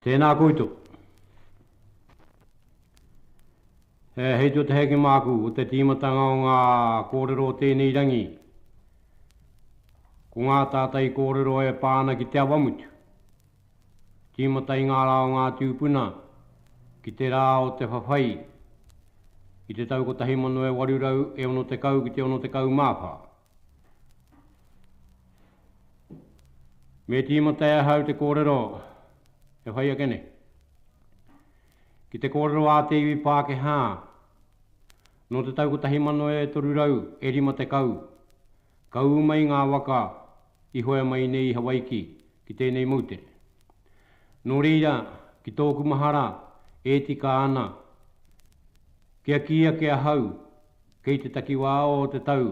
Tēnā koutou. He hei tō te heke māku o te tīmatanga o ngā kōrero o tēnei rangi. Ko ngā tātai kōrero e pā ana ki te awamutu. Tīmata i ngā rā o ngā tūpuna, ki te rā o te whawhai, i te tau 1860 ki te 64. Me tīmata e ahau te kōrero e whai ake nei. Ki te kōrero a te iwi Pākehā, nō te tau 1350 ka ū mai ngā waka i hoe mai nei i Hawaiki ki tēnei moutere. Nō reira, ki tōku mahara, e tika ana kia kī ake ahau Kei te takiwā o te tau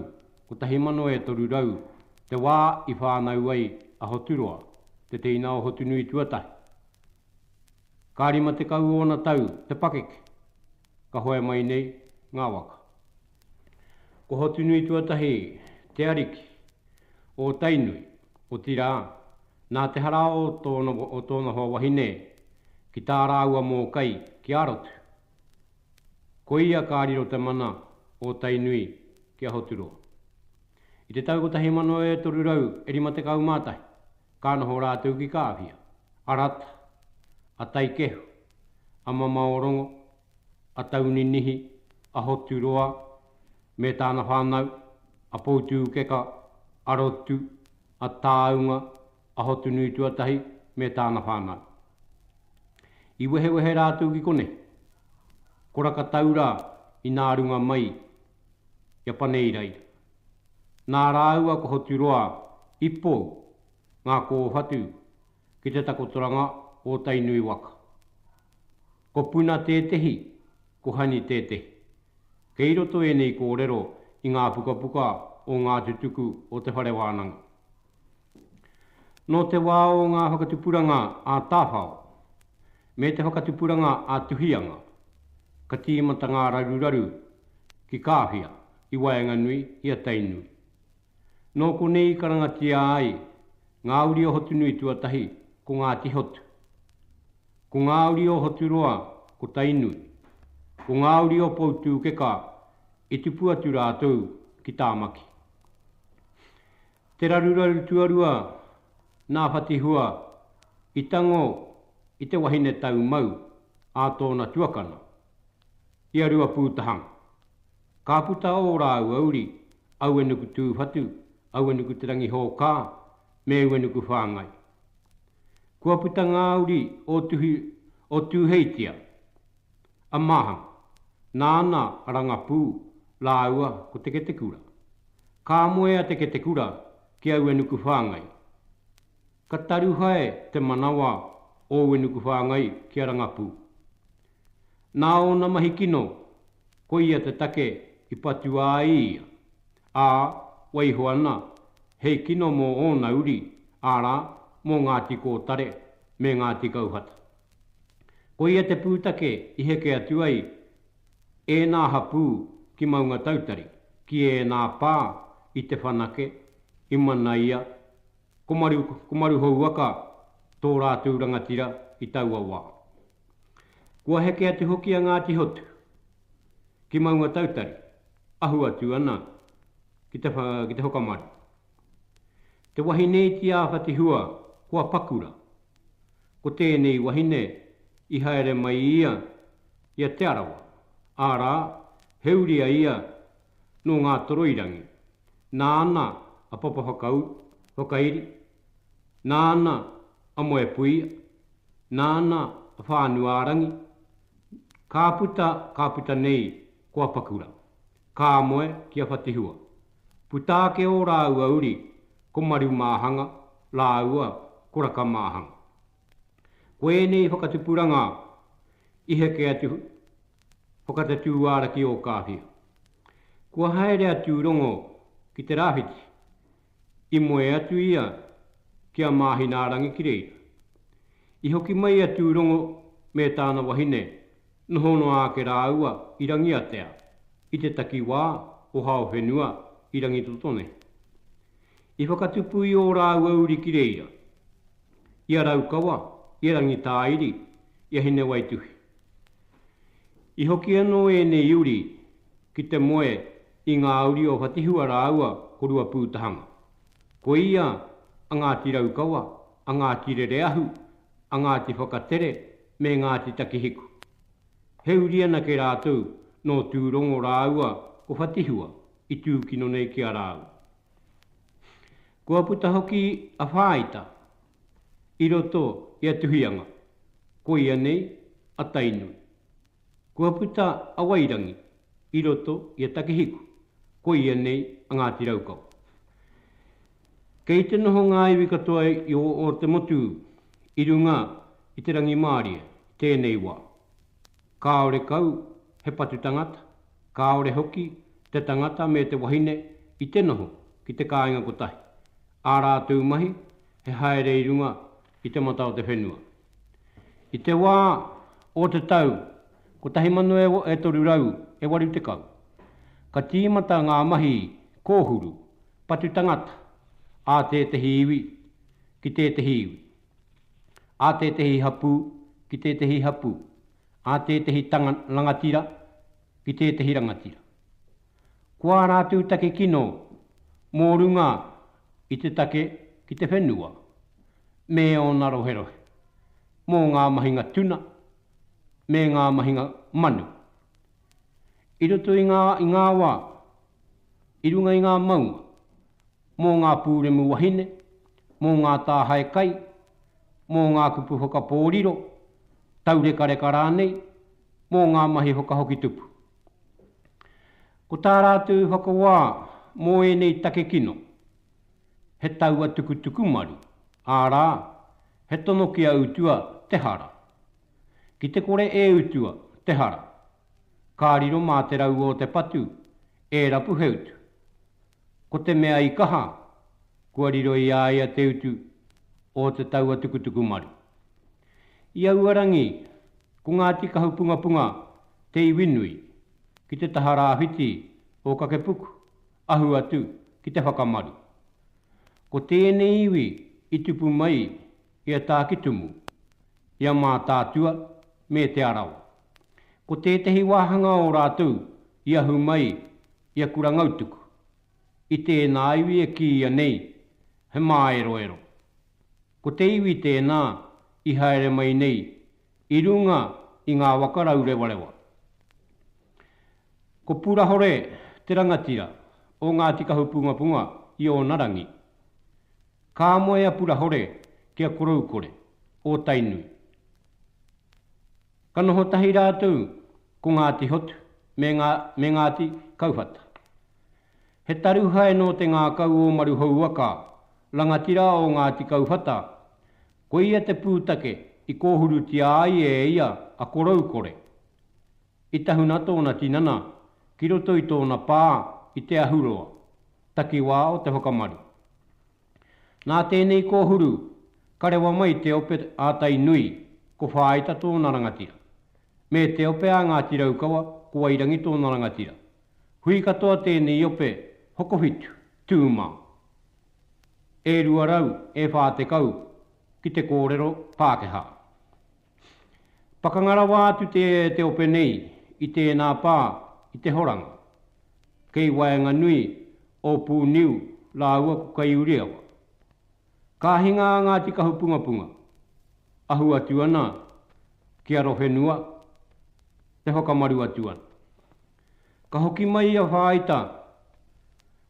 1300 te wā i whānau ai a Hoturoa, te teina o Hotunui tuatahi. Ka rima tekau ōna tau te pakeke ka hoe mai nei ngā waka. Ko Hotunui tuatahi te ariki o Tainui, otirā, nā te hara o tōna hoa wahine ki tā rāua mōkai ki Arotu, Ko ia ka riro te mana o Tainui ki a Hoturoa. I te tau 1351 ka noho rātou ki Kāwhia, a Rata, a Taikehu, a Mamaorongo, a Tauninihi, a Hoturoa me tāna whānau, a Poutūkeka, a Rotu, a Tāunga, a Hotunui tuatahi me tāna whānau. I wehewehe rātou ki konei, koraka tau rā inā runga mai i a Paneiraira. Nā rāua ko Hoturoa i pou ngā kōwhatu ki te takotoranga o Tainui waka. Ko Puna tētehi, ko Hani tētehi. Kei roto ēnei kōrero i ngā pukapuka o ngā tutuku o te whare wānanga. Nō te wā o ngā whakatupuranga ā-tāwhao me te whakatupuranga ā-tuhianga, ka tīmata ngā raruraru ki Kāwhia, ki waenganui i a Tainui. Nō konei i karangatia ai ngā uri o Hotunui tuatahi ko Ngāti Hotu. Ko ngā uri o Hoturoa ko Tainui. Ko ngā uri o Poutūkeka i tupu atu rātou ki Tāmaki. Te raruraru tuarua nā Whatihua i tango i te wahine tau mau a tōna tuakana, i a Ruapūtahanga. Ka puta ō rāua uri, Auenukutūwhatu, Auenukutērangihōkā me Uenukūwhāngai. Kua puta ngā uri o Tuhi o Tūheitia, a Maham, nāna a Rangapū rāua ko Te Ketekura. Ka moe a Te Ketekura ki aua nuku whāngai. Ka taruhae te manawa o aua nuku whāngai ki a Rangapū. Nā ōna mahi kino, koia te take i patua ai ia, ā, waiho ana hei kino mō ōna uri, arā, mō Ngāti Kōtare me Ngāti Kauhata. Koia te pūtake i heke atu ai ēnā hapū ki Maungatautari, ki ēnā pā i Te Whanake, i Manaia, ko Maru, ko Maruhouaka tō rātou rangatira i taua wā. Kua heke atu hoki a Ngāti Hotu ki Maungatautari, ahu atu ana ki te, ki te whakamaru. Te wahine iti a Whatihua, kua pakura, Ko tēnei wahine i haere mai i ia, i a Te Arawa, ārā, he uri a ia nō Ngātoroirangi. Nāna a Papa Whakauru, whakairi, nāna a Moepuia, nāna a Whānuārangi, ka puta, ka puta nei ko a Pakura. Ka moe ki a Whatihua. Puta ake ō rāua uri, ko Marumāhanga rāua ko Rakamāhanga. Ko ēnei whakatupuranga i heke atu whakatatū ara ki Ōkāwhia. Kua haere a Tūrongo ki te rāwhiti, I moe atu ia ki a Māhinaarangi ki reira. I hoki mai a Tūrongo me tāna wahine noho noa ake rāua i Rangiatea, i te takiwā o Haowhenua i Rangitotonehe. I whakatupu i ō rāua uri ki reira, i a Raukawa, i a Rangitāiri, i a Hinewaituhi. I hoki anō ēnei uri ki te moe I ngā uri o Whatihua rāua ko Ruapūtahanga. Ko ia a Ngāti Raukawa, a Ngāti Rereahu, a Ngāti Whakatere me Ngāti Takihiku. He uri anake rātou nō Tūrongo rāua ko Whatihua i tūkino nei ki a rāua. Kua puta hoki a Whāita i roto i a Tuhianga, koia nei a Tainui. Kua puta a Wairangi i roto i a Takihiku, koia nei a Ngāti Raukawa. Kei te noho ngā iwi katoa i o Ō-te-motu i runga i te rangimārie i tēnei wā. Kāore kau he patu tangata, kāore hoki te tangata me te wahine i te noho ki te kāinga kotahi, ā rātou mahi he haere i runga i te mata o te whenua. I te wā o te tau 1380, ka tīmata ngā mahi kōhuru patu tangata a tētehi iwi ki tētehi iwi, a tētehi hapū ki tētehi hapū, a tētehi rangatira ki tētehi rangatira. Ko ā rātou take kino mō runga i te take ki te whenua me ōna roherohe, mō ngā mahinga tuna me ngā mahinga manu. I roto i ngā wā, i runga i ngā maunga, mō ngā pūremu wahine, mō ngā tāhae kai, mō ngā kupu whakapōriro, taurekareka rānei, mō ngā mahi whakahoki tupu. Ko tā rātou whakawā mō ēnei take kino, he taua tukutuku maru, ārā, he tono ki a utua te hara. Ki te kore e utua te hara, ka riro mā te raua o te patu e rapu he utu. Ko te mea i kaha, kua riro i a ia te utu o te taua tukutuku maru. I aua rangi, ko ngā tikahu pungapunga te iwi nui, ki te taha rāwhiti o Kakepuku, ahu atu ki te whakamaru. Ko tēnei iwi i tupu mai i a Tākitumu, i a Mātaatua me Te Arawa. Ko tētehi wāhanga o rātou i ahu mai I aku rangautuku, i tēnā iwi e kīia nei he māeroero. Ko te iwi tēnā i haere mai nei i runga i ngā waka raurewarewa. Ko Purahore te rangatira o Ngāti Kahupungapunga i ōna rangi. Ka moe a Purahore ki a Koroukore, o Tainui. Ka noho tahi rātou ko Ngāti Hotu me ngā, me Ngāti Kauwhata. He taruhae nō te ngākau o Maruhouaka, rangatira o Ngāti Kauwhata, ko ia te pūtake i kōhurutia ai e ia a Koroukore. I tahuna tōna tinana ki roto i tōna pā i Te Ahuroa, takiwā o Te Whakamaru. Nā tēnei kōhuru, ka rewa mai te ope a Tainui, ko Whāita tōna rangatira. Me te ope a Ngāti Raukawa, ko Wairangi tōna rangatira. Hui katoa tēnei ope, hokowhitu, tū mā. E rua rau, e whā tekau, ki te kōrero Pākehā. Pakanga rawa atu te te ope nei i tēnā pā i te horanga. Kei waenganui o Pūniu rāua ko Kaiuriawa. Ka hinga a Ngāti Kahupungapunga, ahu atu ana ki Arowhenua, e whakamaru atu ana. Ka hoki mai a Whāita,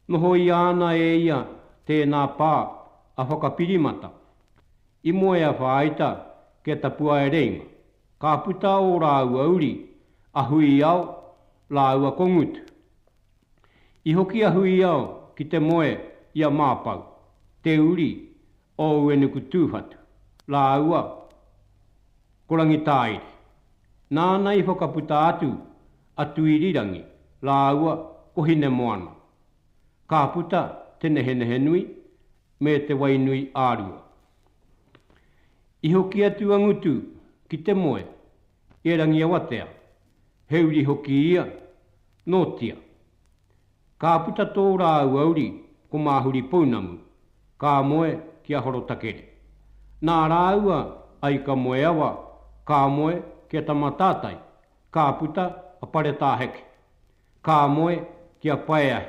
nohoia ana e ia tēnā pā a Whakapirimata. I moe a Whāita ki a Tapuaereinga, ka puta ō rāua uri, a Huiao rāua ko Ngutu. I hoki a Huiao ki te moe i a Māpau, te uri o Uenukutūwhatu, rāua ko Rangitāiri. Nāna i whakaputa atu a Tuirirangi rāua ko Hinemoana. Ka puta te nehenehenui me Te Wainuiārua. I hoki atu a Ngutu ki te moe i a Rangiawatea, he uri hoki ia, nōtia. Ka puta tō rāua uri ko Māhuri Pounamu, ka moe ki a Horotakere. Nā rāua a Ika Moeawa ka moe ki a Tamatātai, ka puta a Paretāheke, ka moe ki a Paeahi,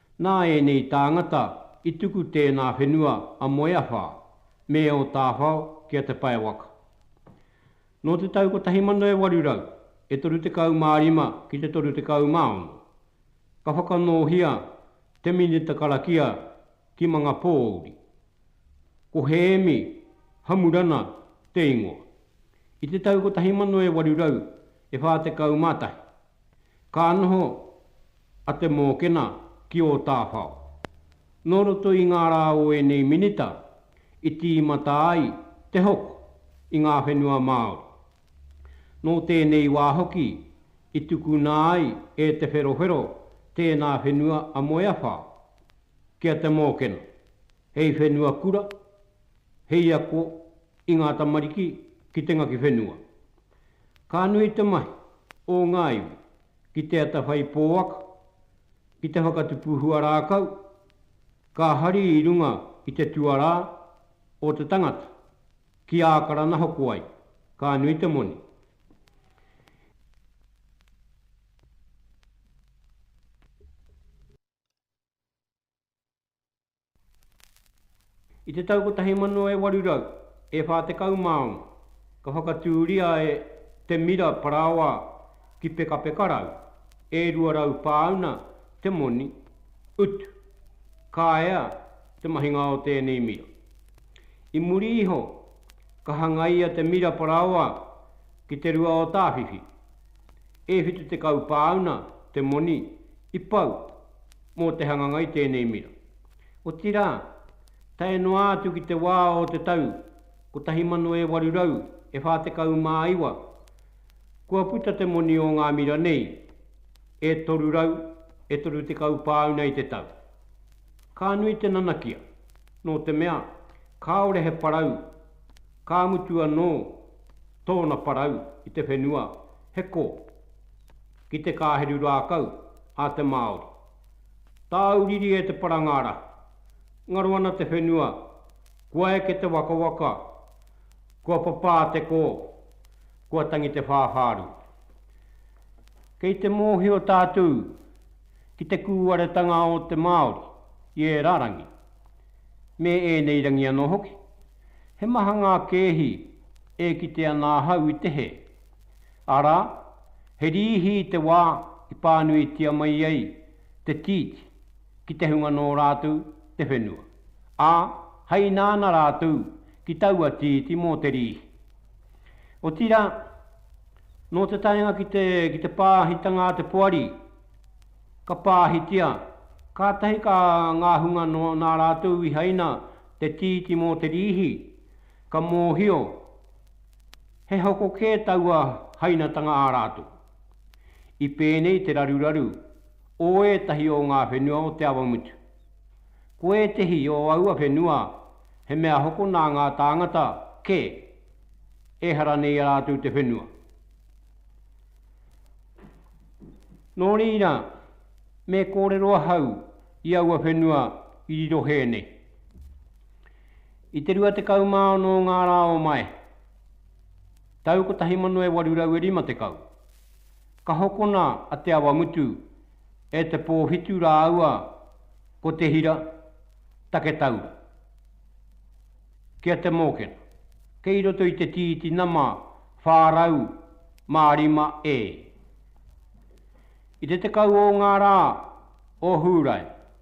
Nā ēnei tāngata i tuku tēnā whenua a Moeawha me ō tāwhao ki a Te Pae Waka. Nō te tau 1800, e 35 ki te 36, ka whakanōhia te minita karakia ki Mangapōuri. Ko Hēmi Hamurana te ingoa. I te tau 1841, ka noho a Te Mōkena ki Ōtāwhao. Nō roto i ngā rā o ēnei minita i tīmata ai te hoko i ngā whenua Māori. Nō tēnei wā hoki i tukuna ai e Te Wherowhero tēnā whenua a Moeawha ki a Te Mōkena hei whenua kura, hei ako i ngā tamariki ki te ngaki whenua. Ka nui te mahi o ngā iwi ki te atawhai pōaka, ki te whakatupu hua rākau, ka hari i runga i te tuarā o te tangata, ki Ākarana hoko ai, ka nui te moni. I te tau 1800, e 40 māu ka whakatūria e Te Mira Parāoa ki Pekapekarau, e 200 pāuna te moni, utu. Ka ea te mahinga o tēnei mira. I muri iho, ka hangaia Te Mira Parāoa ki Te Rua o Tāwhiwhi, e 70 pāuna te moni, i pau mō te hanganga i tēnei mira. Otirā, tae noa atu ki te wā o te tau 1849, kua puta te moni o ngā mira nei e 330 pāuna i te tau. Ka nui te nanakia, nō te mea, kāore he parau, ka mutu anō tōna parau i te whenua, he kō. ki te kāheru rākau a te Māori. Tāu riri e te parangārahu, ngaro ana te whenua, kua eke te wakawaka, kua papā te kō, kua tangi te whāwhārū. Kei te mōhio tātū ki te kūaretanga o te Māori i ērā rangi, me ēnei rangi anō hoki. He maha ngā kēhi e kite ana ahau i te hē. Arā, he rīhi i te wā i pānuitia mai ai te tīti ki te hunga nō rātou te whenua, ā, hai nāna rātou ki taua tīti mō te rīhi. Otirā, nō te taenga ki te, ki te pāhitanga a te poari, ka pāhitia, kātahi ka ngā hunga nō nā rātou i haina te tīti mō te rīhi, ka mōhio, He hoko kē taua hainatanga ā rātou. I pēnei te raruraru o ētahi o ngā whenua o Te Awamutu. Ko ētehi o aua whenua he mea hoko nā ngā tāngata kē, ehara nei rātou te whenua. Nō reira, me kōrero ahau i aua whenua i riro hē nei. I te 26 o ngā rā o Maehe, tau 1850, ka hokona a Te Awamutu e Te Pōwhitu rāua ko Te Hira Taketaura ki a Te Mōkena, kei roto i te tīti nama 405 e. I te tekau o ngā rā o Hūrae,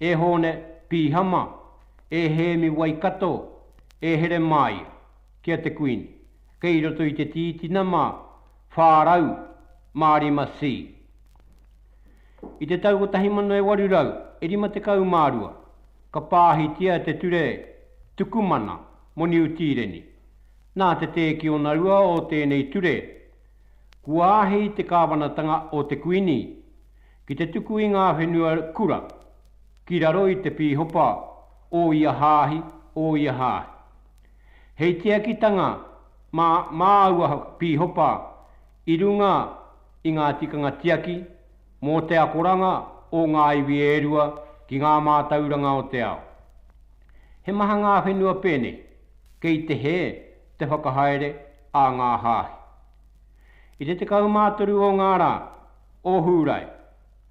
E Hōne Pīhama, e Hēmi Waikato, e Heremāia, ki a te Kuini, kei roto i te tītina mā, 400 mā rima si. I te tau 1852, ka pāhitia te ture tukumana mō Niu Tīreni. Nā te tēkionarua o tēnei ture, kua āhei te kāwanatanga o te Kuini, Ki te tuku i ngā whenua kura ki raro i te pīhopa o ia hāhi, o ia hāhi. Hei tiakitanga mā māua pīhopa i runga i ngā tikanga tiaki mō te akoranga o ngā iwi e rua ki ngā mātauranga o te ao. He maha ngā whenua pēnei, kei te hē te whakahaere a ngā hāhi. I te 13 o ngā rā o Hūrae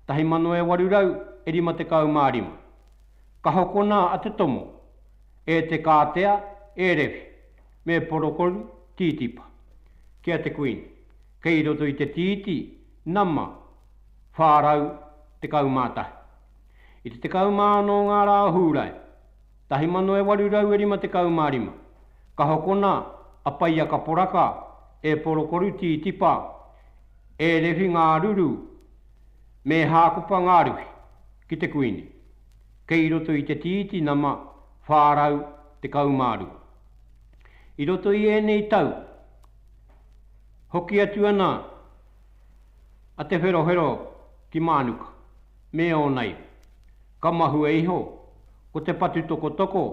1855, ka hokona a Te Tomo e Te Kātea, e Rewi, me Porokolu Tītipa ki a Te Kuini, kei roto i te tīti nama 411. I te 16 o ngā rā o Hūrae 1855, ka hokona a Paiaka Poraka e Porokoro Tītipa, e Refi Ngāruru me Hākopa Ngāruhi ki te Kuini, kei roto i te tīti nama 412. I roto i ēnei tau, hoki atu ana a Te Wherohero ki Mānuka me ōna iwi, Ka mahue iho, ko Te Patutokotoko,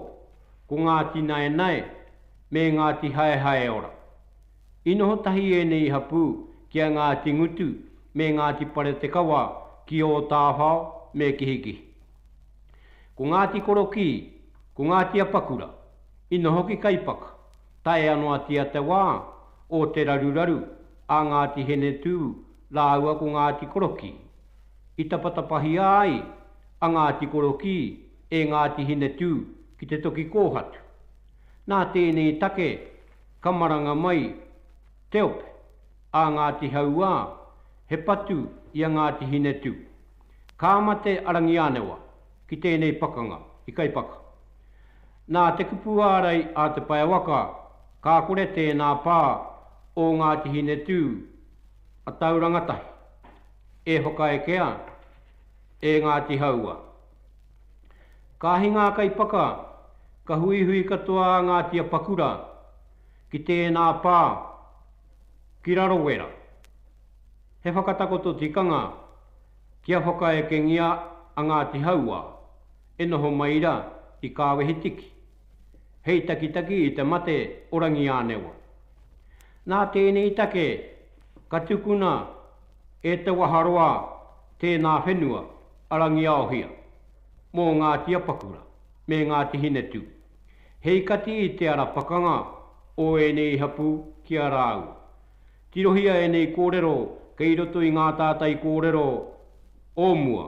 ko Ngāti Naenae, me Ngāti Haehaeora. I noho tahi ēnei hapū ki a Ngāti Ngutu me Ngāti Paretekawa ki Ōtāwhao me Kihikihi. Ko Ngāti Korokī, ko Ngāti Apakura, i noho ki Kaipaka, tae anō ati a te wā o te raruraru a Ngāti Henetū rāua ko Ngāti Korokī. i tapatapahia ai a Ngāti Korokī e Ngāti Hinetū ki te toki kōhatu. Nā tēnei take ka maranga mai te ope a Ngāti Hauā he patu i a Ngāti Hinetū. Ka mate a Rangiānewa ki tēnei pakanga i Kaipaka. Nā te kupu ārai a Te Paewaka, ka kore tēnā pā o Ngāti Hinetū A tau rangatahi, e hokaeke ana, e Ngāti Hauā. Ka hinga kai paka, ka huihui katoa a Ngāti Apakura ki tēnā pā, ki Rarowera. He whakatakoto tikanga kia whakaekengia a Ngāti Hauā e noho mai ra i Kāwehitiki. hei takitaki i te mate o Rangiānewa. Nā tēnei take ka tukuna e Te Waharoa tēnā whenua a Rangiaohia mō Ngāti Apakura me Ngāti Hinetū, hei kati i te ara pakanga o ēnei hapū ki a rāua. Tirohia ēnei kōrero kei roto i ngā tātai kōrero o mua.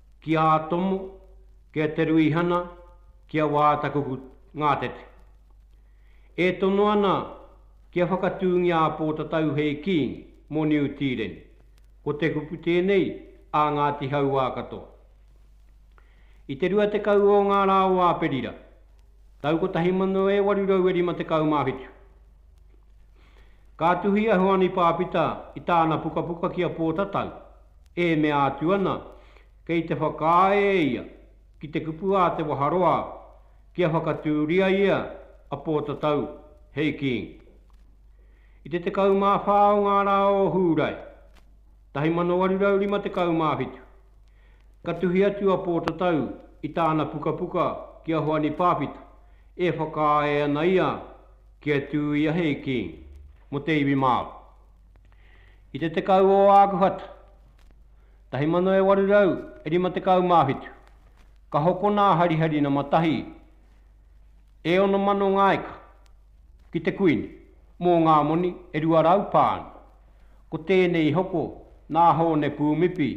Ki a Tomo, ki a Te Ruihana, ki a Wātakuku Ngātete. E tono ana kia whakatūngia a Pōtatau hei Kīngi mō Niu Tīreni, ko te kupu tēnei a Ngāti Hauā katoa. I te 20 o ngā rā o Āperira, tau 1857, Ka tuhi a Huani Pāpita i tāna pukapuka ki a Pōtatau, e mea atu ana, kei te whakaae e ia ki te kupu a Te Waharoa kia whakatūria ia a Pōtatau hei King. I te 14 o ngā rā o Hūrae, 1857, ka tuhi atu a Pōtatau i tāna pukapuka ki a Huani Pāpita, e whakaae ana ia Kia tū ia hei kīngi mō te iwi Māori. I te 10 o Ākuhata 1857, ka hokona a Hariharina Matahi e 6000 ngā eka ki te Kuini mō ngā moni e 200 pāuna, ko tēnei i hoko nā Hōne Pūmipi,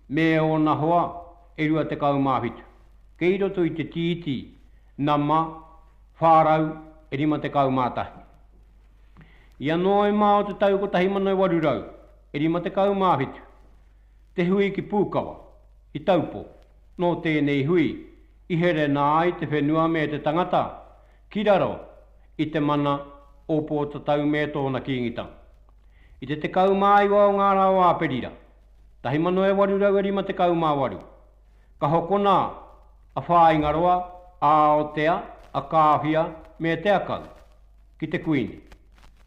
me ōna hoa e rua tekau mā whitu, kei roto i te Tītī nama whā rau e rima tekau mā tahi. I a Noema o te tau 1857, te hui ki Pūkawa, i Taupō, nō tēnei hui i herena ai te whenua me te tangata ki raro i te mana o Pōtatau me tōna Kīngitanga. I te 19 o ngā rā o Āperira, 1858. Ka hokona a Whāingaroa, a Aotea, a Kāwhia me Te Akau ki te Kuini.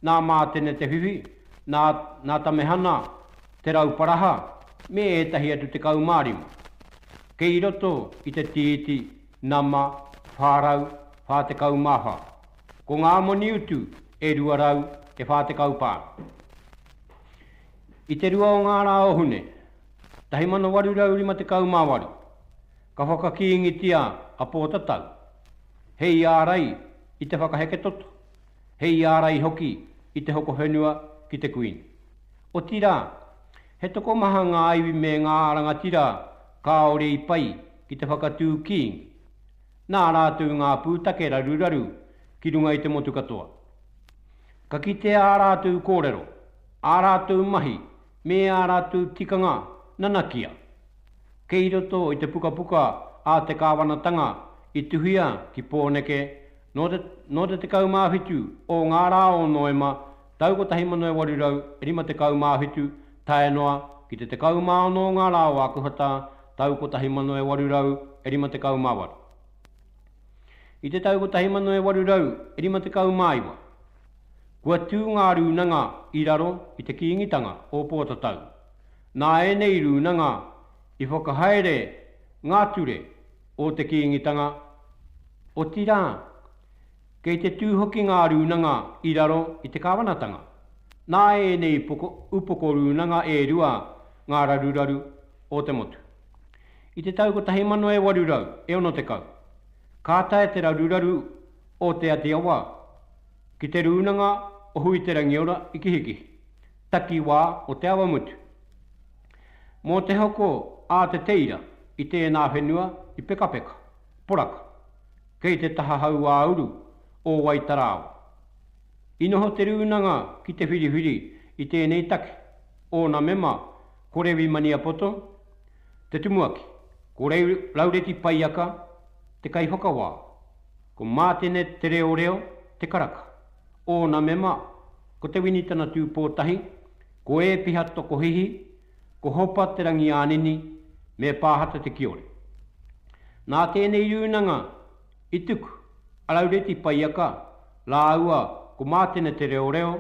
Nā Mātene Te Whiwhi, nā, nā Tamehana Te Rauparaha me ētahi atu 15. Kei roto i te tīiti nama 444. Ko ngā moni utu e 240 pānga. I te rua o ngā rā o Hune 1858, ka whakakīngitia a Pōtatau he iārai i te whakaheke toto, he iārai hoki i te hoko whenua ki te Kuini. Otirā, he tokomaha ngā iwi me ngā rangatira kāore i pai ki te whakatū kīngi. Nā rātou ngā pūtake raruraru ki runga i te motu katoa. Ka kitea ā rātou kōrero. ā rātou mahi me ā rātou tikanga nanakia. Kei roto i te pukapuka a te Kāwanatanga i tuhia ki Pōneke nō te nō te 17 o ngā rā o Noema tau 1857 tae noa ki te 16 o ngā rā o Ākuhata tau 1858. I te tau 1859, Kua tū ngā rūnanga i raro i te Kīngitanga o Pōtatau. Nā ēnei rūnanga i whakahaere ngā ture o te Kīngitanga, otirā, kei te tū hoki ngā rūnanga i raro i te Kāwanatanga. Nā ēnei upoko rūnanga e rua ngā raruraru o te motu. I te tau 1960, ka tae te raruraru o Te Ati Awa ki Te Rūnanga o Huiterangiora i Kihikihi, takiwā o Te Awamutu. Mō te hoko a Te Teira i tēnā whenua i Pekapeka, poraka, kei te taha hauāuru o Waitarāoa. I noho te rūnanga ki te whiriwhiri i tēnei take, ōna mema ko Rewi Maniapoto, te tumuaki, ko Laureti Paiaka, te kaiwhakawā. Ko Mātene Te Reoreo te karaka. Ōna mema, ko Te Winitana Tūpōtahi, ko Ēpiha Tokohihi, ko Hopa Te Rangiānini, me Pāhata Te Kiore. Nā tēnei rūnanga i tuku a Raureti Paiaka rāua ko Mātene Te Reoreo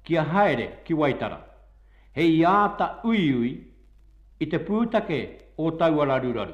kia haere ki Waitara, hei āta uiui i te pūtake o taua raruraru.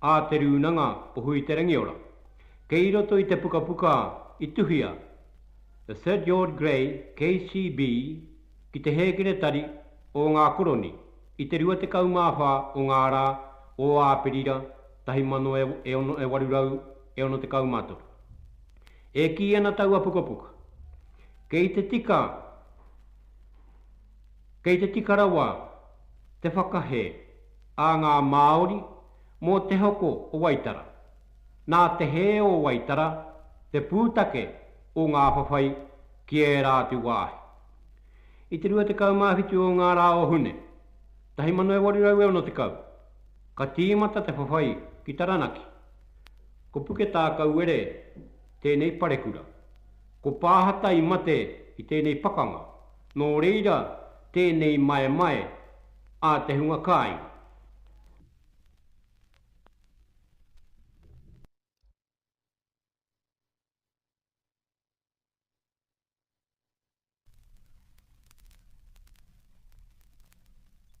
a Te Rūnanga o Huiterangiora. Kei roto i te pukapuka i tuhia The Sir George Grey KCB ki te hēkeretari o ngā koroni i te 24 o ngā rā o Āperira 1863. E kī ana taua pukapuka, kei te tika, Kei te tika rawa te whakahē a ngā Māori mō te hoko o Waitara. Nā te hē o Waitara te pūtake o ngā whawhai ki ērā atu wāhi. I te 27 o ngā rā o Hune, 1860, ka tīmata te whawhai ki Taranaki. Ko Puketākauere tēnei parekura. Ko Pāhata i mate i tēnei pakanga, Nō reira, tēnei maemae a te hunga kāinga.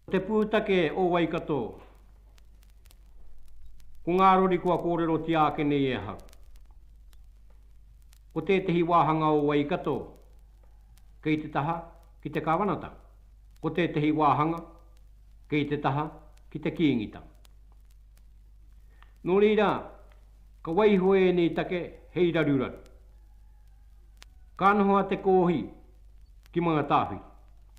Ko te pūtake o Waikato, ko ngā rori kua kōrerotia ake nei e ahau. Ko tētehi wāhanga o Waikato kei te taha ki te Kāwanatanga, ko tētehi wāhanga kei te taha ki te Kīngitanga. Nō reira, ka waiho ēnei take hei raruraru. Ka noho a Te Koohi ki Mangatāwhiri.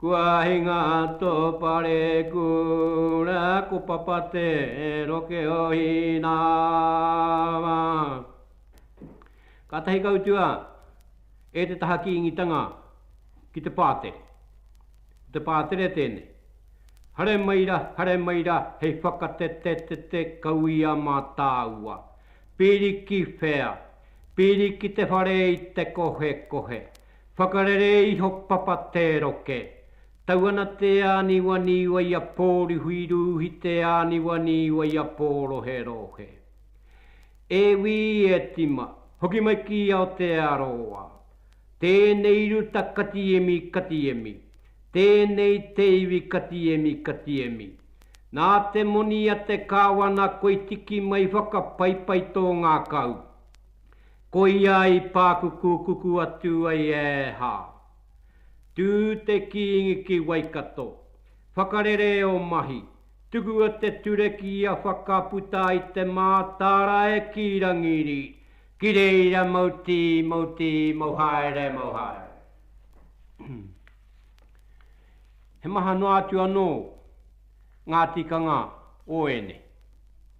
Kua ahi ngā tō pare kura ko papa te roke o Hīnāma. Kātahi ka utua e te taha kīngitanga ki te pātere. Ko te pātere tēnei. Hare mai ra, hare mai ra, hei whakatetetete kau i a mātāua. Piri ki whea? Piri ki te whare i te kohekohe. Whakarere iho papa te roke. Tau ana te āniwaniwa i a Pōrihuirūhi te āniwaniwa i a Pōroherohe. E wī e tima, hoki mai ki Aotearoa. Tēnei ruta katiemi katiemi. Tēnei te iwi katiemi katiemi. Nā te moni a te kāwana koe tiki mai whakapaipai tō ngākau. Koia i pākuku kuku atu ai e Hā. Tū te Kīngi ki Waikato. Whakarere ō mahi. Tukua te ture ki a Whakaputa i te mātāra e Kī Rangiri. Ki reira mau tī, mau tī, mau haere, mau haere. He maha noa atu anō ngā tikanga o ēnei.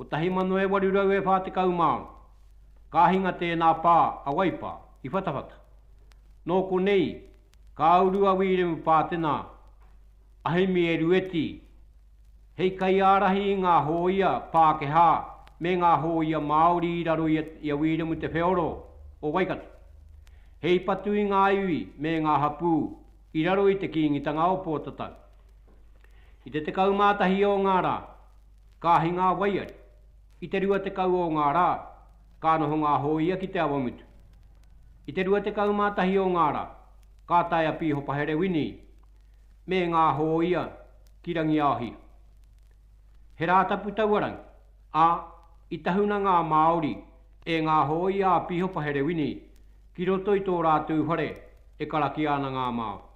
1800 e 40 māu, ka hinga tēnā pā a Waipā i Whatawhata. Nō konei ka uru a Wīremu Pātena a Hemi Erueti hei kaiārahi i ngā hōia Pākehā me ngā hōia Māori i raro i a Wīremu Te Wheoro o Waikato, hei patu i ngā iwi me ngā hapū i raro i te Kīngitanga o Pōtatau. I te 11 o ngā rā. Ka ahi ngā waiari. I te rua tekau o ngā rā, ka noho ngā hōia ki Te Awamutu. I te rua tekau mā tahi o ngā rā, ka tae a Pīhopahere Winnie me ngā hōia ki Rangiaohia. He Rātapu taua rangi, ā, i tahuna ngā Māori e ngā hōia a Pīhopahere Winnie ki roto i tō rātou whare e karakia ana ngā Māori.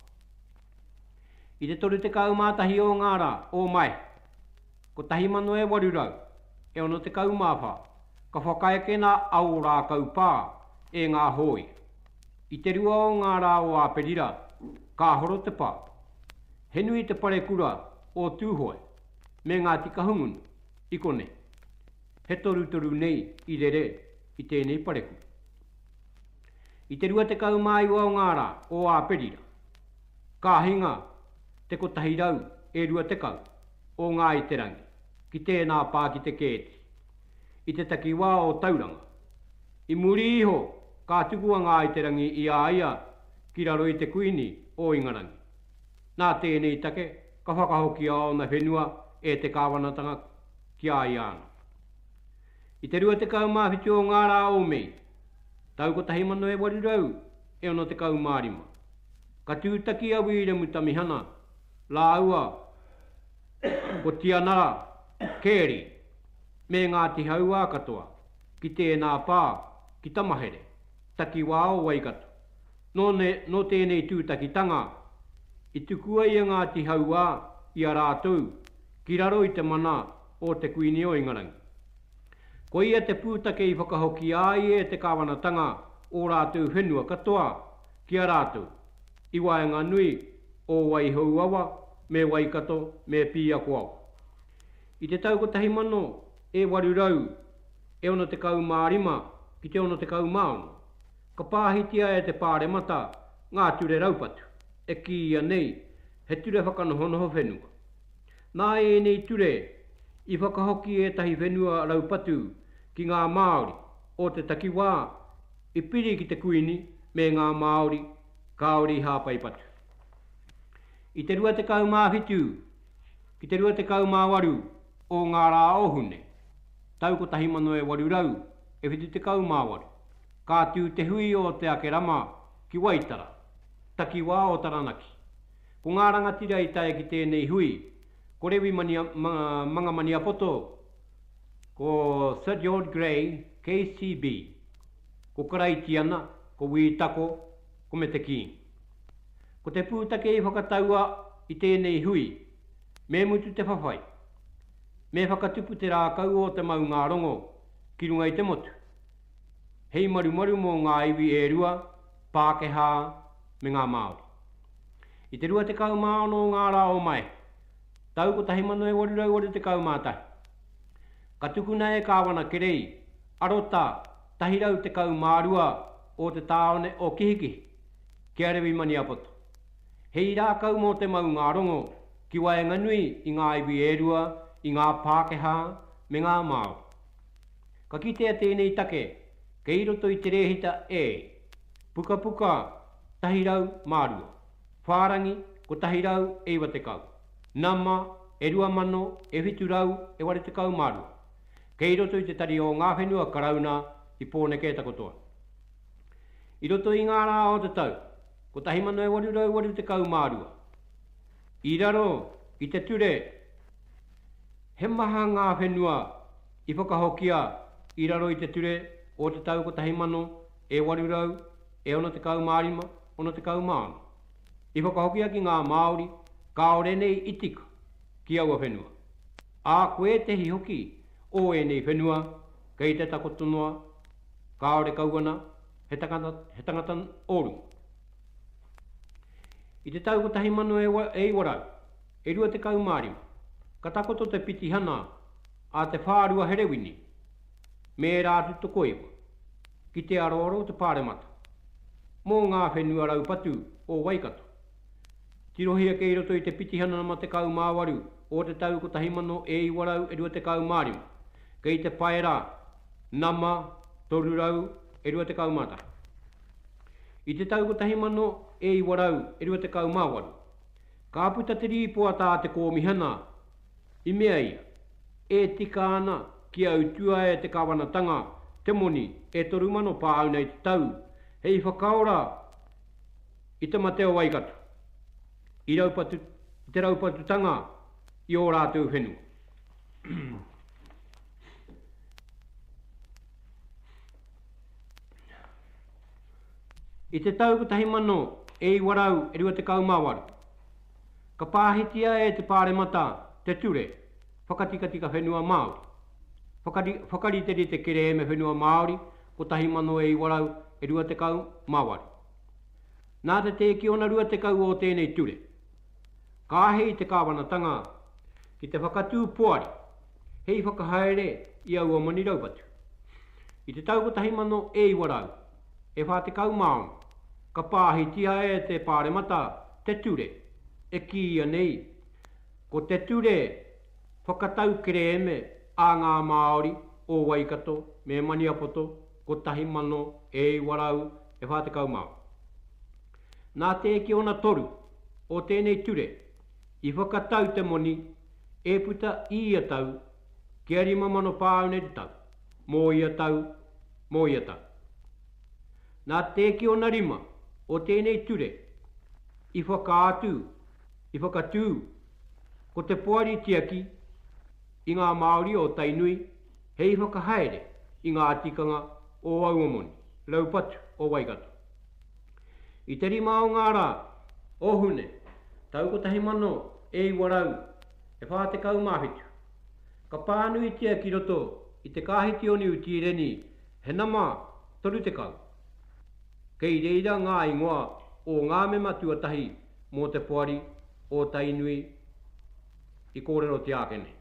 I te 31 o ngā rā o Mae 1864, ka whakaekena a Ōrākau Pā e ngā hōia. I te rua o ngā rā o Āperira, ka horo te pā. He nui te parekura o Tūhoe me Ngāti Kahungunu i konei. He torutoru nei i rere i tēnei parekura. I te 29 o ngā rā o Āperira, ka hinga te 120 o Ngāi Te Rangi ki tēnā pā ki te kēti, i te takiwā o Tauranga. I muri iho ka tuku a Ngāi Te Rangi i a ia ki raro i te Kuini o Ingarangi. Nā tēnei take ka whakahokia ōna whenua e te kāwanatanga ki a ia anō. I te 27 o ngā rā o Mei, tau 1865, ka tūtaki a Wīremu Tamihana rāua ko Tianara, Carey, me Ngāti Hauā katoa ki tēnā pā ki Tamahere, takiwā o Waikato. Nō, nō tēnei tūtakitanga i tukua i a Ngāti Hauā i a rātou ki raro i te mana o te Kuini o Ingarangi. Ko ia te pūtake i whakahoki ai e te Kāwanatanga ō rātou whenua katoa ki a rātou, i waenganui o Waihouawa me Waikato me Pīakoawa. I te tau 1865 ki te 66, ka pāhitia e te Pāremata ngā ture raupatu, e kīia nei he ture whakanohonoho whenua. Nā ēnei ture i whakahoki ētahi whenua raupatu ki ngā Māori o te takiwā i piri ki te Kuini me ngā Māori kāore i hāpai patu. I te 27 ki te 28 o ngā rā o Hune, tau 1878, ka tū te hui o Te Akerama ki Waitara, takiwā o Taranaki. Ko ngā rangatira i tae ki tēnei hui, ko Rewi Mangamaniapoto, ko Sir George Grey, KCB, ko Karaitiana, ko Wī Tako, ko Mete King. Ko te pūtake i whakataua i tēnei hui, me mutu te whawhai, me whakatupu te rākau o te maungārongo ki runga i te motu. hei marumaru mō ngā iwi e rua, Pākehā me ngā Māori. I te 26 o ngā rā o Mae, tau 1881, ka tukuna e Kāwana Kerei arota 112 o te tāone o Kihikihi ki a Rewi Maniapoto, hei rākau mō te maungārongo ki waenganui i ngā iwi e rua, i ngā Pākehā me ngā Māori. Ka kitea tēnei take kei roto i te rēhita E, Pukapuka 102, Whārangi 190, Nama e 2000 e 782, kei roto i te Tari o Ngā Whenua Karauna i Pōneke takotoa. I roto i ngā rā o te tau 1882, i raro i te ture He maha ngā whenua I whakahokia i raro i te ture o te tau kotahi mano e waru rau e ono tekau mā rima, ono tekau mā ono. I whakahokia ki ngā Māori kāore nei i tika ki aua whenua, ā, ko ētehi hoki o ēnei whenua kei te takoto noa, kāore kau ana he tangata, he tangata o runga. I te tau kotahi mano e iwa rau, e rua tekau mā rima, ka takoto te pitihana, A Te Whārua Herewini me ērā atu tokoiwa ki te aroaro o te Pāremata mō ngā whenua raupatu o Waikato, tirohia kei roto i te pitihana nama 18 o te tau 1925, kei te paera nama 321. I te tau 1928, ka puta te rīpoata a te Kōmihana, I mea ia, E tika ana ki a utua e te Kawanatanga te moni e toru mano paau nei te tau hei whakaora i te mate o Waikato, i raupatu, i te raupatutanga i o ratou whenua. I te tau kotahi mano e iwa rau e rua tekau ma waru, Ka pāhitia e te Pāremata te Ture Whakatikatika Whenua Māori, whakari, Whakariterite Kerēme Whenua Māori 1928. Nā te tēkiona 20 o tēnei ture, ka āhei te Kāwanatanga ki te whakatū poari hei whakahaere i aua moni raupatu. I te tau 1900, e 41, ka pāhitia e te Pāremata te ture e kīia nei ko Te Ture Whakatau Kerēme a ngā Māori o Waikato me Maniapoto 1944. Nā te eke ona toru o tēnei ture i whakatau te moni e puta i ia tau kia 5,000 pāuna i te tau. Mō ia tau, mō ia tau. Nā te kiona rima o tēnei ture i whakaatu, i whakatū ko te poari tiaki i ngā Māori o Tainui hei whakahaere i ngā tikanga o aua moni raupatu o Waikato. I te rima o ngā rā. O Hune, tau kotahi mano e iwa rau, e whā tekau mā whitu, Ka pānuitia ki roto i te Kāhitioniu Tīreni he nama 30. Kei reira ngā ingoa o ngā mema tuatahi mō te poari o Tainui i kōrerotia ake nei.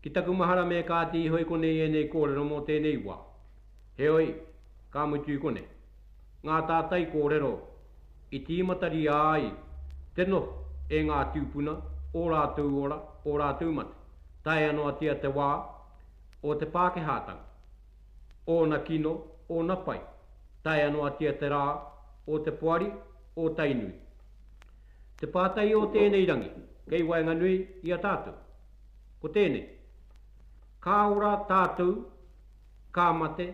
Ki taku mahara me kāti iho i konei ēnei kōrero mō tēnei wā. Heoi, ka mutu i konei. Ngā tātai kōrero i tīmataria ai te noho e ngā tūpuna, ō rātou ora, ō rātou mate, taea noatia te wā, o te Pākehātanga, ōna kino, ōna pai, taea noatia te rā, o te poari, o Tainui. Te pātai o tēnei rangi kei waenganui i a tātou, ko tēnei, Ka ora tātou? ka mate,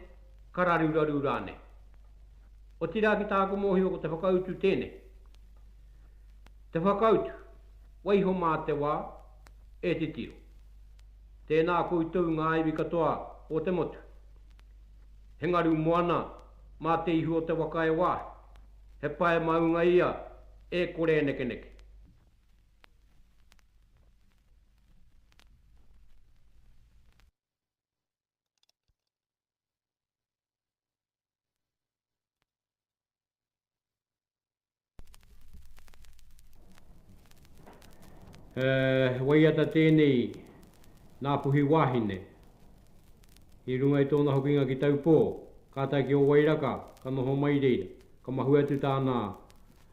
ka raruraru rānei. Otirā ki tāku mōhio ko te whakautu tēnei. Te whakautu, waiho mā te wā, e titiro. Tēnā koutou ngā iwi katoa o te motu. He ngaru moana mā te ihu o te waka e wāhi. He pae maunga ia e kore e nekeneke. he waiata tēnei nā puhi wāhine. I runga i tōna hokinga ki Taupō, kātai ki Owairaka, ka noho mai reira. Ka mahue atu tāna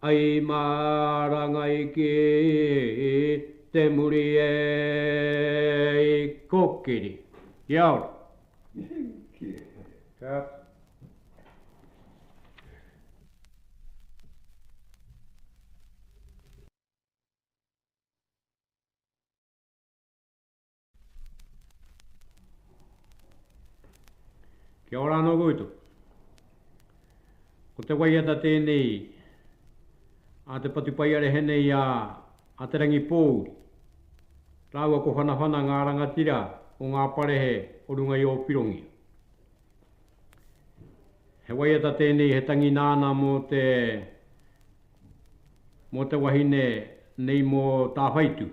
Ai mā rangai ki te muri e i kokiri. Kia ora. Kia. Kia ora anō koutou. Ko te waiata tēnei a te patupaiarehe nei a Te Rangipōuri rāua ko Whanawhana ngā rangatira o ngā parehe o runga i Ōpirongia. He waiata tēnei he tangi nāna mō te mō te wahine nei mō Tāwhaitu.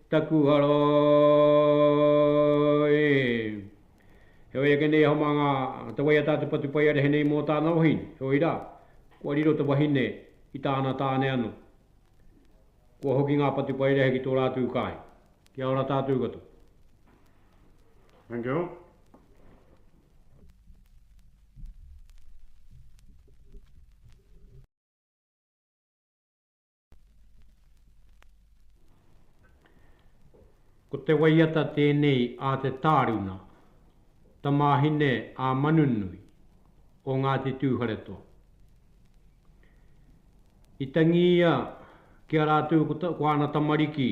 Taku hara e. Heoi ake nei hama nga te wai a ta te Patupaiarehe nei mo tana wahine, heoi ra, kua riro te wahine i tana tane ano. Kua hoki nga Patupaiarehe ki to ratou kai. Kia ora tatou katoa. Thank you. Ko te waiata tēnei a te tāruna, tamāhine a Manunui, o Ngāti Tūwharetoa. I tangi ia ki a rātou ko āna tamariki,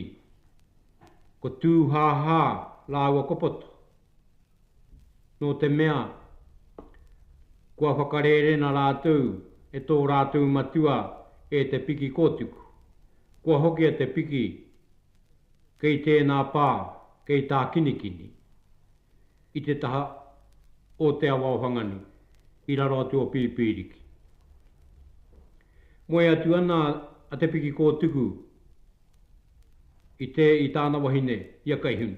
ko Tūhāhā rāua ko Poto. nō te mea, kua whakarērena rātou e tō rātou matua e te piki kōtuku. Kua hokia te piki kei tēnā pā, kei Tākinikini, i te taha o Te Awa-o-Whanganui, i raro atu o Pīpīriki. Moe atu ana a te piki kōtuku i te, i tāna wahine, i a Kaihunu.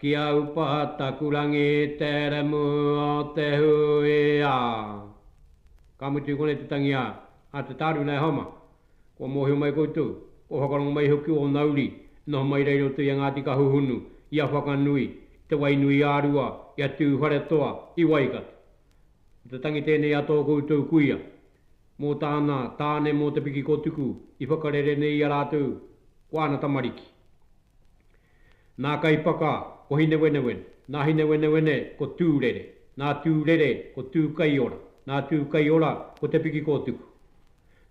Ki a upa taku rangi te remu o te hui a. Ka mutu i konei te tangi a, a te taru nei homa. Kua mohio mai koutou, kua whakarongo mai iho ki ona uri, e noho mai rei roto i a Ngati Kahuhunu, i a Whakanui, i te Wainuiārua, i a Tuwharetoa, i Waikato. Ko te tangi tenei a to koutou kuia. mō tāna tāne mō te piki ko Tuku i whakarere nei i a rātou ko āna tamariki. Nā Kaipaka ko Hinewenewene, nā Hinewenewene ko Tūrere, nā Tūrere ko Tūkaiora, nā Tūkaiora ko Te Piki ko Tuku.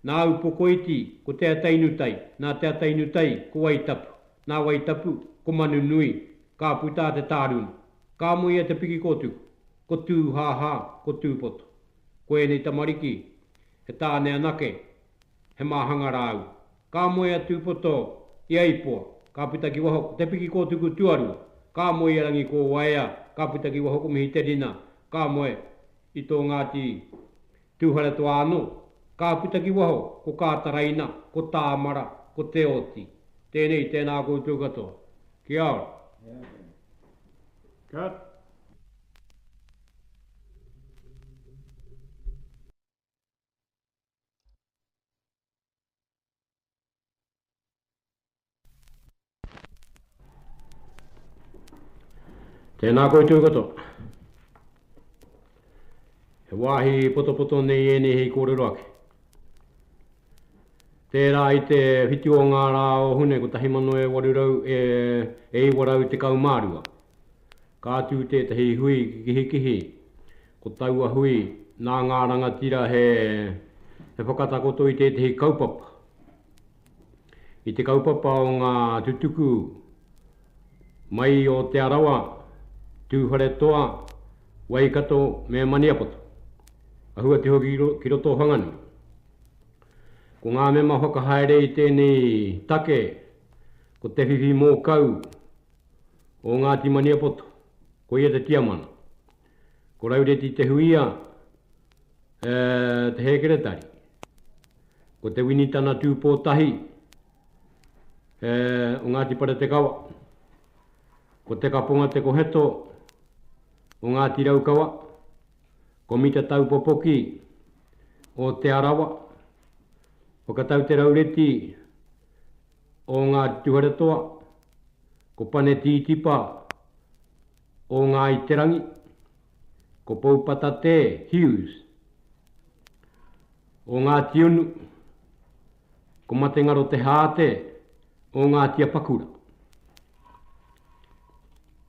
Nā Upokoiti ko Te Atainutai, nā Te Atainutai ko Waitapu, nā Waitapu ko Manunui, ka puta a Te Tāruna, ka moe i a Te Piki ko Tuku, ko Tūhāhā, ko Tūpoto. Ko ēnei tamariki, he tāne anake, he māhanga rāu. Ka moe a Tūpoto i a Ipoa, ka puta ki waho ko Te Pikikōtuku tuarua, ka moe i a Rangikōwaea, ka puta ki waho ko Mihiterina, ka moe i tō Ngāti Tūwharetoa anō, ka puta ki waho ko Kātaraina, ko Tāmara, ko Te Oti. Tēnei, tēnā koutou katoa. Kia ora. Cut. Tēnā koutou katoa. He wāhi potopoto nei ēnei hei kōrero ake. Tērā i te whitu o ngā rā o Hune 1800 e, e 912. Ka tū tētahi hui ki Kihikihi, ko taua hui nā ngā rangatira he whakatakoto i tētahi kaupapa, i te kaupapa o ngā tutuku mai o Te Arawa, Tūwharetoa, Waikato me Maniapoto, āhua te hoki ki roto o Whanganui. Ko ngā mema whakahaere i tēnei take ko Te Whiwhi Mōkau, o Ngāti Maniapoto, ko ia te tiamana. Ko Raureti Te Huia te hēkeretari. Ko Te Winitana Tūpōtahi o Ngāti Paretekawa. Ko Te Kaponga Te Koheto o Ngāti Raukawa. Ko Mita Taupopoki o Te Arawa. Whakatau te Raureti o Ngāti Tuwharetoa, ko Pane Tītipa o Ngāi Te Rangi, ko Poupatatē Hughes o Ngāti Unu, ko Matengaro Te Haate o Ngāti Apakura.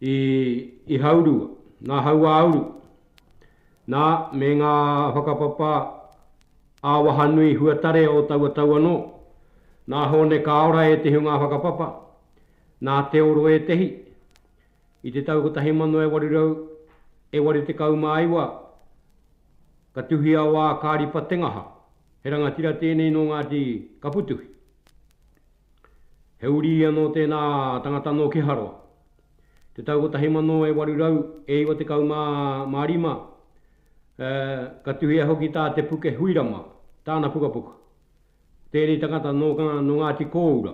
I Ihaurua, nā Hauāuru, nā, me ngā whakapapa ā-wahanui huatare o taua tau anō. Nā Hōne Kāora ētehi o ngā whakapapa, nā Te Oro ētehi. I te tau 1889, ka tuhia o Ākāripa Tengaha, he rangatira tēnei nō Ngāti Kaputuhi. He uri anō tēnā tangata nō Keharoa. Te tau 1895, ā, ka tuhia hoki tā Te Puke Huirama tāna pukapuka. Tēnei tangata nō Ngāti Kōura,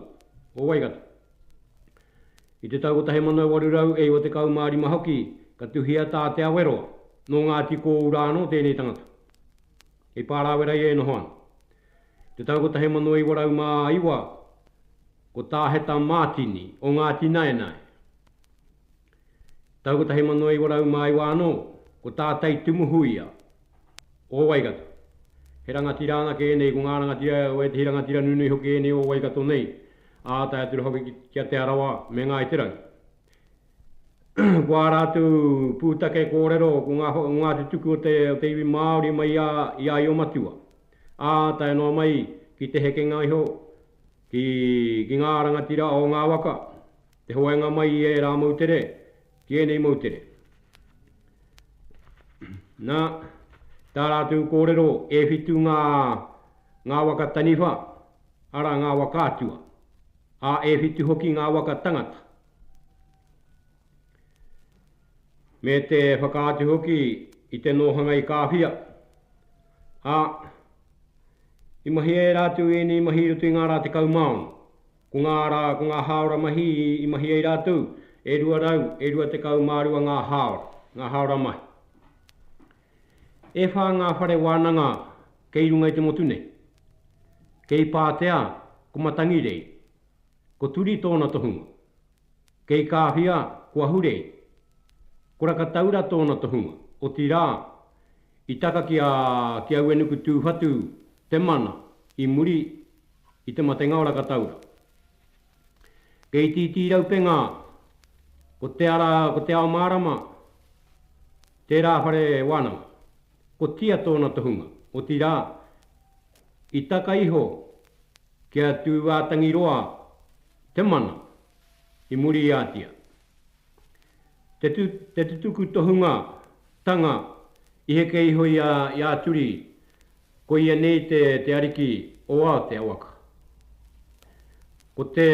o Waikato. I te tau 1895 hoki ka tuhia tā Te Aweroa, nō Ngāti Kōura anō tēnei tangata. Hei pārāwera ia e noho ana. Te tau 1909, ko Tā Heta Mātini o Ngāti Naenae. Tau 1909 anō, ko Tā Tei Tumuhuia o Waikato. He rangatira anake ēnei, ko ngā rangatira o ētehi rangatira nunui hoki ēnei o Waikato nei, ā tae atu rā hoki ki a Te Arawa me Ngāi Te Rangi. ko ā rātou pūtake kōrero, ko ngā, ngā tutuki o te, o te iwi Māori mai i a, i a Io-matua. ā tae noa mai ki te hekenga iho ki ki ngā rangatira o ngā waka, te hoainga mai i ērā moutere ki ēnei moutere. Na, tā rātou kōrero e whitu ngā ngā waka taniwha, arā ngā waka atua, ā, e whitu hoki ngā waka tangata. me te whakaatu hoki i te nōhanga i Kāwhia, ā, i mahi ērā atu i ēnei mahi i roto i ngā rā 16. Ko ngā rā, ko ngā hāora mahi i mahi ai rātou, e 200, e 22 ngā hāora, ngā hāora mahi. E whā ngā whare wānanga kei runga i te motu nei. Kei Pātea, ko Matangirei, ko Turi tōna tohunga, Kei Kāwhia, ko Ahurei. Ko Rakataura tōna tohunga, otirā, i taka ki a ki Auenuku Tūwhatu te mana i muri i te matenga o Rakataura. Kei Itiiti Raupenga, ko Te Ara, ko Te Ao Mārama, tērā whare wānanga. Ko Tia tōna tohunga, otirā, i taka iho ki a Tūātangiroa te mana i muriatia te te tutuku tohunga tanga i heke iho i a i a Turi ko ia nei te te ariki o a te awaka ko te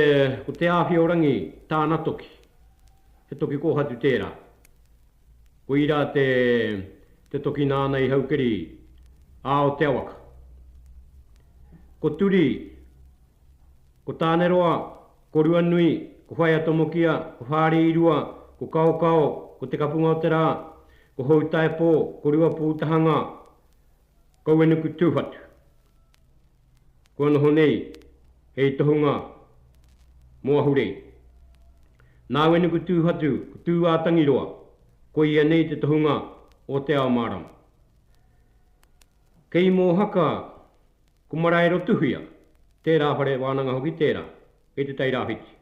ko Te Awhiorangi tāna toki he toki kōhatu tērā. Koira te te toki nāna i Haukeri a o Te Awaka. Ko Turi, ko Tāneroa, ko Ruanui, ko Whaea Tomokia, ko Whāriirua, ko Kaokao, ko Te Kapunga-o-te-rā, ko Houtaepō, ko Ruapūtahanga, Kauenuku Tūwhatu. Kua noho nei hei tohunga mō Ahurei. Nāuenuku Tūwhatu ko Tūātangiroa, koia nei te tohunga o Te Ao Mārama. Kei Mōhaka ko Maraerotuhia, tērā whare wānanga hoki tērā, kei Te Tai Rāwhiti.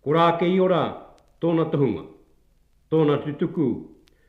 Ko Rākeiora tōna tohunga, tōna tutuku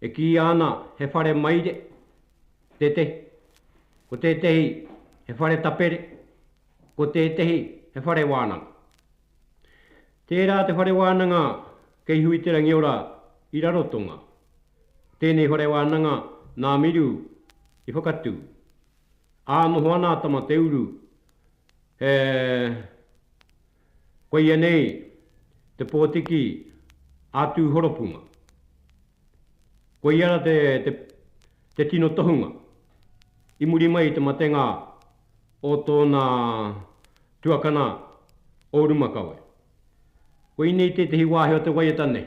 E kīia ana he whare maire tētehi, ko tētehi he whare tapere, ko tētehi he whare wānanga. Tērā te whare wānanga kei Huiterangiora i Rarotonga, tēnei whare wānanga nā Miru i whakatū. Ā noho ana a Tamateuru he. Koia nei te pōtiki ā-tūhonopunga. Koiana te, te, te tino tohunga i muri mai i te matenga o tōna tuakana o Rumakawe. Koinei tētehi wāhi o te waiata nei,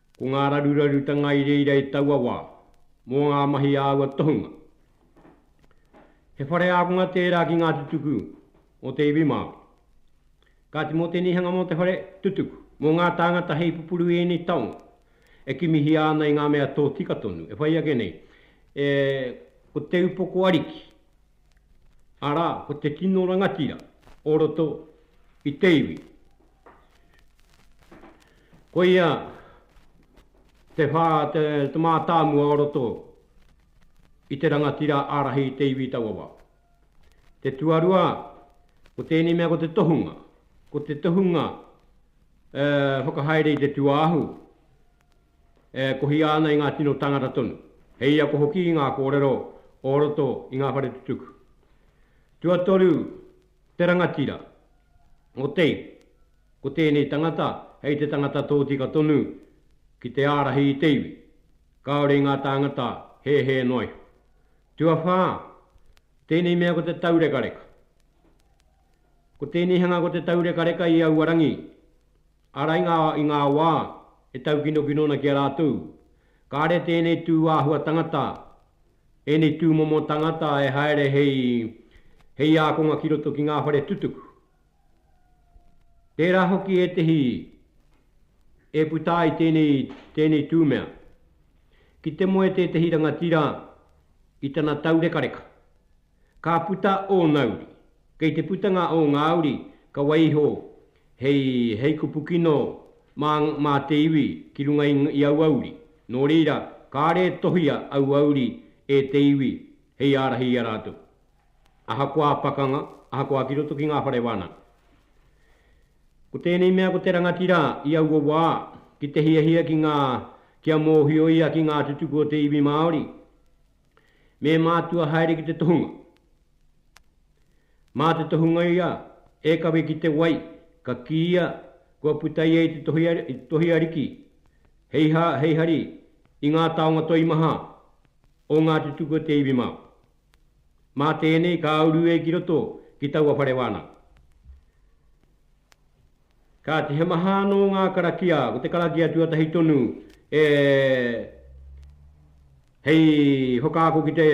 Ko ngā rarurarutanga i reira i taua wā, mō ngā mahi a aua tohunga. He whare ākonga tērā ki ngā tutuku o te iwi Māori. Kāti mō te nihanga mō te whare tutuku, mō ngā tāngata hei pupuru i ēnei taonga, e kimihia ana i ngā mea tōtika tonu, e whai ake nei, e, ko te upoko ariki, arā, ko te tino rangatira o roto i te iwi. Koia te whā, te mātāmua o roto i te rangatira ārahi i te iwi taua wā. Te tuarua, ko tēnei mea ko te tohunga, ko te tohunga e whakahaere i te tuāhu, e kohia ana i ngā tino tāngata tonu, hei ako hoki i ngā kōrero o roto i ngā whare tutuki. Tuatoru, Te rangatira. Otei, ko tēnei tangata hei te tangata tōtika tonu ki te ārahi i te iwi, kāore i ngā tāngata hēhē noa iho. Tuawhā, tēnei mea ko te taurekareka. Ko tēnei hanga ko te taurekareka i aua rangi, arā i ngā, i ngā wā e taukinokino ana ki a rātou, kāre tēnei tū āhua tangata Ēnei tūmomo tangata e haere hei, hei ākonga ki roto ki ngā whare tutuku. Tērā hoki ētehi e puta ai tēnei, tēnei tū mea. Ki te moe tētehi rangatira i tana taurekareka, Ka puta ōna uri. Kei te putanga o ngā uri, ka wai iho hei, hei kupu kino mā, mā te iwi ki runga i, i aua uri. Nō reira, kāre e tohia aua uri e te iwi hei ārahi i a rātou. Ahakoā pakanga, ahakoā ki roto ki ngā whare wānanga. Ko tēnei mea ko te rangatira i aua wā, ki te hiahia ki ngā, kia mōhio ia ki ngā tutuki o te iwi Māori, Me mātua haere ki te tohunga. Mā te tohunga ia e kawe ki te wai, ka kīia kua puta ia i te tohi ariki hei hā, hei hari i ngā taonga toimaha o Ngāti Tuku o te iwi Māori. Mā tēnei ka uru e ki roto ki taua whare wānanga. Kāti he maha anō ngā karakia, ko te karakia tuatahi tonu e hei whakaako ki te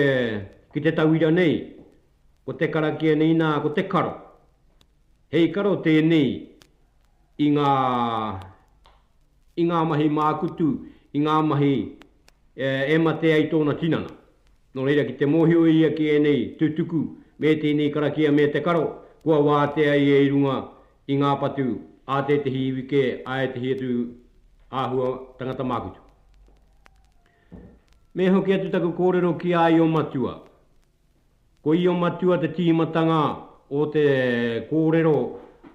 ki te tauira nei, ko te karakia nei nā, ko te karo. Hei karo tēnei i ngā i ngā mahi mākutu, i ngā mahi e mate ai tōna tinana. Nō reira ki te mōhio ia ki ēnei tutuku me tēnei karakia me te karo, kua wātea ia i runga i ngā patu a tētehi iwi kē a ētehi atu āhua tangata mākutu. Me hoki atu taku kōrero ki a Io Matua. Ko Io Matua te tīmatanga o te kōrero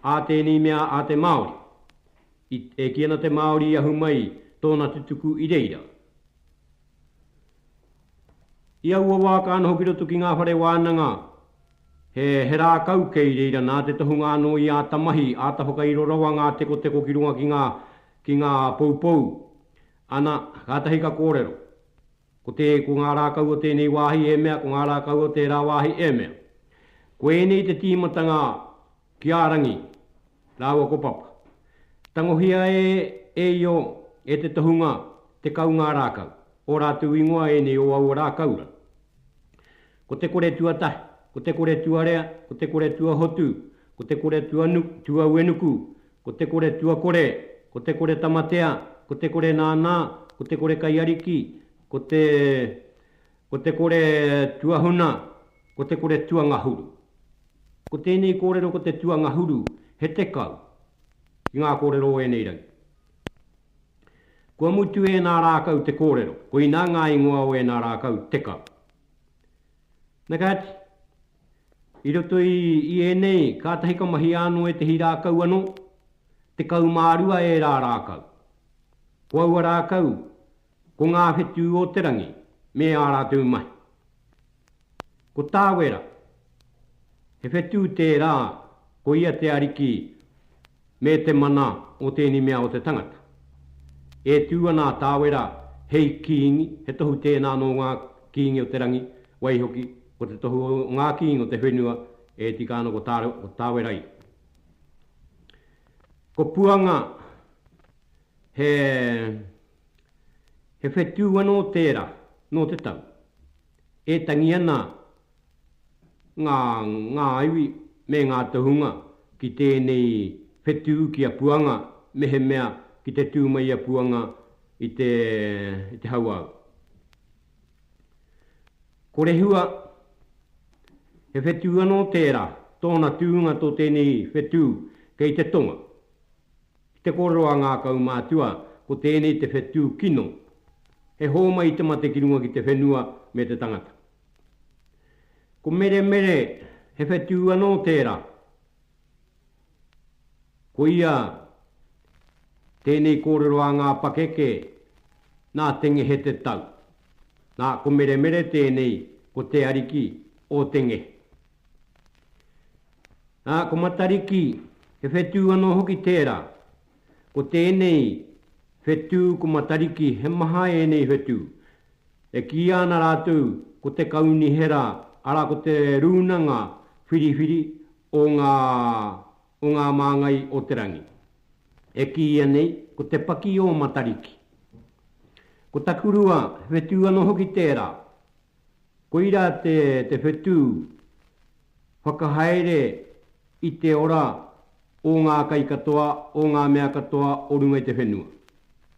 a tēnei mea a te Māori. I, e kī ana te Māori i ahu mai tōna tutuku i reira. I aua wā ka noho ki roto ki ngā whare wānanga he rākau kei reira nā te tohunga anō i āta mahi, āta whakairo rawa ngā tekoteko ki runga ki ngā poupou. Ana, kātahi ka kōrero, ko te, ko ngā rākau o tēnei wāhi e mea, ko ngā rākau o tērā wāhi e mea. Ko ēnei te tīmatanga Ki a Rangi rāua ko Papa. Tangohia e e Io e te tohunga tekau ngā rākau, ō rātou ingoa ēnei o aua rākaura. Ko te kore tuatahi, ko te kore tuarea, ko te kore tuahotu, ko te kore tuanu, tuauenuku, ko te kore tuakore, ko te kore tamatea, ko te kore nānā, ko te kore kaiariki, ko te Ko te kore tuahuna, ko te kore tuangahuru. Ko tēnei kōrero ko te tuangahuru he tekau ki ngā kōrero o ēnei rangi. Kua mutu ēnā rākau te kōrero, koinā ngā ingoa o ēnā rākau tekau. Nā ka ati, i roto i, i ēnei, kātahi ka mahia anō ētehi rākau anō, tekau mā rua ērā rākau. Ko aua rākau, Ko ngā whetū o te rangi me ā rātou mahi. Ko Tāwera, he whetū tērā ko ia te ariki me te mana o tēnei mea o te tangata. E tū ana a Tāwera hei kīngi, he tohu tēnā nō ngā kīngi o te rangi, waihoki, ko te tohu o ngā kīngi o te whenua e tika ana ko Tāwera i. Ko Puanga, he. He whetū anō tērā nō te tau e tangi ana ngā ngā iwi me ngā tohunga ki tēnei whetū ki a Puanga mehemea ki te tū mai a Puanga i te i te hauāuru. Ko Rehua, he whetū anō tērā, tōna tūnga tō tēnei whetū kei te tonga. Ki te kōrero a ngā kaumātua, ko tēnei te whetū kino, he hōmai i te mate ki runga ki te whenua me te tangata. Ko Meremere, he whetū anō tērā. Ko ia, tēnei kōrero a ngā pakeke, nā Te Ngehe te tau. Nā, ko Meremere tēnei, ko Te Ariki o Te Ngehe. Ā, ko Matariki, he whetū anō hoki tērā. Ko tēnei whetū ko Matariki he maha ēnei whetū. E kīia ana rātou ko te Kaunihera, arā ko te Rūnanga Whiriwhiri o ngā, o ngā māngai o te rangi. E kīia nei ko te paki o Matariki. Ko Takurua, he whetū anō hoki tērā. Koira te whetū whakahaere i te ora o ngā kai katoa, o ngā mea katoa o runga i te whenua.